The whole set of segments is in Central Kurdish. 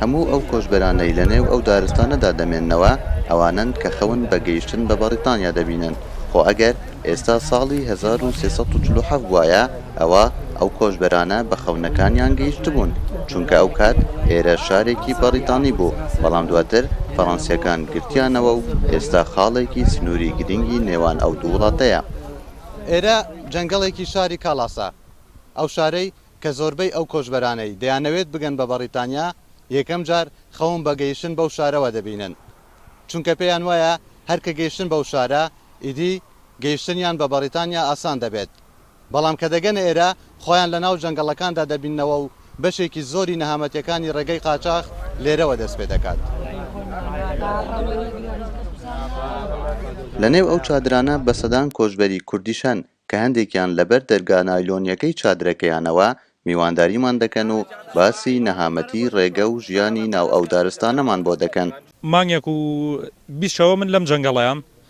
هەموو ئەو کۆچبەرانەی لە نێو ئەو دارستانەدا دەمێننەوە ئەوانەن کە خەون بە گەیشتن بە بەڕیتانیا دەبینن، خۆ ئەگەر ئێستا ساڵی هەزار و سێ سەد و چل و حەفت بوایە ئەوا ئەو کۆچبەرانە بە خەونەکانیان گەیشتبوون چونکە ئەو کات ئێرە شارێکی بەڕیتانی بوو بەڵام دواتر فەڕەنسیەکان گرتیانەوە و ئێستا خاڵێکی سنوری گرنگی نێوان ئەو دوو وڵاتەیە. ئێرە جەنگەڵێکی شاری کاڵاسە، ئەو شارەی کە زۆربەی ئەو کۆچبەرانەی دەیانەوێت بگەن بە بەڕیتانیا، یەکەم جار خەون بە گەیشتن بەو شارەوە دەبینن، چونکە پێیان وایە هەر کە گەیشتن بەو شارە، ئیدی گەیشتنیان بە بەڕیتانیا ئاسان دەبێت، بەڵام کە دەگەنە ئێرە، خۆیان لە ناو جەنگەڵەکاندا دەبیننەوە و بەشێکی زۆری نەهامەتیەکانی ڕێگەی قاچاخ لێرەوە دەست پێ دەکات. لە نێو ئەو چادرانە بە سەدان کۆچبەری کوردیش هەن کە هەندێکیان لە بەر دەرگا نایلۆنیەکەی چادرەکەیانەوە میوانداریمان دەکەن و باسی نەهامەتی ڕێگە و ژیانی ناو ئەو دارستانەمان بۆ دەکەن. مانگێک و بیست شەوە من لەم جەنگەڵەیام.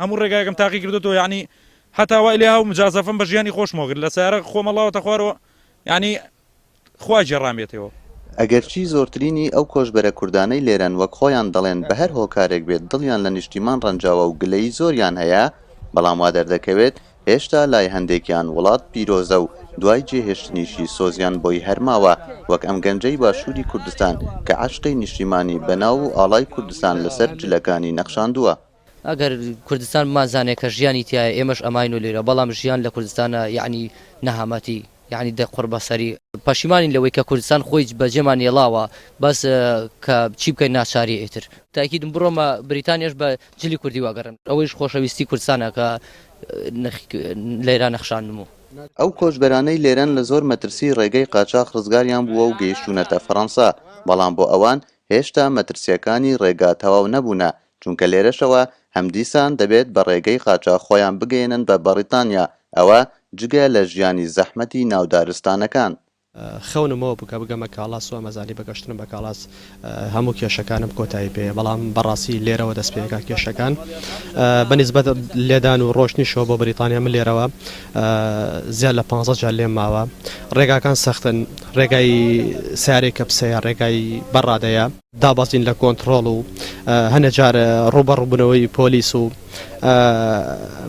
هەموو ڕێگایەکم تاقی کردۆتەوە یەعنی هەتا وای لێ هاو مجازەفم بە ژیانی خۆشمەوە گرت لە سەیارە خۆمە ڵاوەتە خوارەوە یەعنی خوا گێڕامێتێوە. ئەگەرچی زۆرترینی ئەو کۆچبەرە کوردانەی لێرەن وەک خۆیان دەڵێن بە هەر هۆکارێک بێت دڵیان لە نیشتیمان ڕەنجاوە و گلەیی زۆریان هەیە بەڵام وا دەردەکەوێت هێشتا لای هەندێکیان وڵات پیرۆزە و دوای جێهێشتنیشی سۆزیان بۆی هەر ماوە وەک ئەم گەنجەی باشووری کوردستان کە عەشقی نیشتیمانی بە ناو و ئاڵای کوردستان لەسەر جلەکانی نەخشاندووە. ئەگەر کوردستان بمانزانێ کە ژیانی تیایە ئێمەش ئەماین و لێرە بەڵام ژیان لە کوردستانا یەعنی نەهامەتی یەعنی دە قوڕ بە سەری. پەشیمانین لەوەی کە کوردستان خۆی بە جێمان ێڵاوە بەس کە چی بکەین ناچاریە ئیتر. تاکیدم بڕۆمە بریتانیاش بە جلی کوردی واگەڕێم. ئەوەیش خۆشەویستی کوردستانە کە لێرە نەخشاندمو. ئەو کۆچبەرانەی لێرەن لە زۆر مەترسی ڕێگەی قاچاخ ڕزگاریان بووە و گەیشتوونەتە فەرەنسا، بەڵام بۆ ئەوان هێشتا مەترسییەکانی ڕێگا تەواو نەبوونە چونکە لێرەشەوە هەمدیسان دەبێت بە ڕێگەی قاچاخ خۆیان بگەیەنن بە بەڕیتانیا، ئەوە جگە لە ژیانی زەحمەتی ناو دارستانەکان. خەونمەوە بوو کە بگەمە کاڵاس و ئەمەزانی بە گەشتن بە کاڵاس هەموو کێشەکانم کۆتایی پێیە بەڵام بەڕاستی لێرەوە دەست پێکا کێشەکان بە نیسبەت لێدان و ڕۆشتنیشەوە بۆ بەریتانیا من لێرەوە زیاد لە پانزە جار لێم ماوە ڕێگاکان سەختن ڕێگای سارێ کەپسەیە ڕێگای بەڕادەیە دابەزین لە کۆنتڕۆڵ و هەنە جار ڕوبەڕوبنەوەی پۆلیس و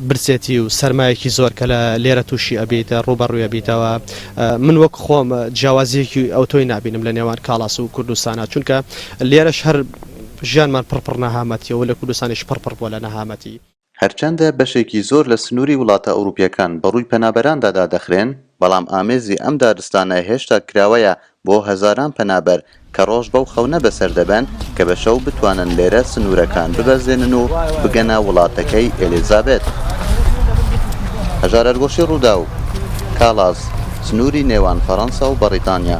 برسێتی و سرمایەکی زۆر کە لە لێرە تووشی ئەبیت ڕوبەڕوێ بیتەوە من وەک خۆم جیاوازیەکی ئەو تۆی نبینم لە نێوان کاڵاس و کوردستانە چونکە لێرەش هەر ژیانمان پڕپڕ نەهامەتیەوە لە کوردستانیش پڕپڕ بۆ لە نەهامەتی هەرچەندە بەشێکی زۆر لە سنووری وڵاتە ئەوروپییەکان بەڕووی پەنابەراندا دادەخرێن، بەڵام ئامێزی ئەم دارستانە هێشتا کراوەیە بۆ هەزاران پەنابەر کە ڕۆژ بەو خەونە بەسەر دەبەن کە بە شەو بتوانن لێرە سنوورەکان ببەزێنن و بگەنە وڵاتەکەی ئێلیزابێت. هەژارەرگۆشی ڕووداو، کاڵاز، سنووری نێوان فەڕەنسا و بەڕیتانیا.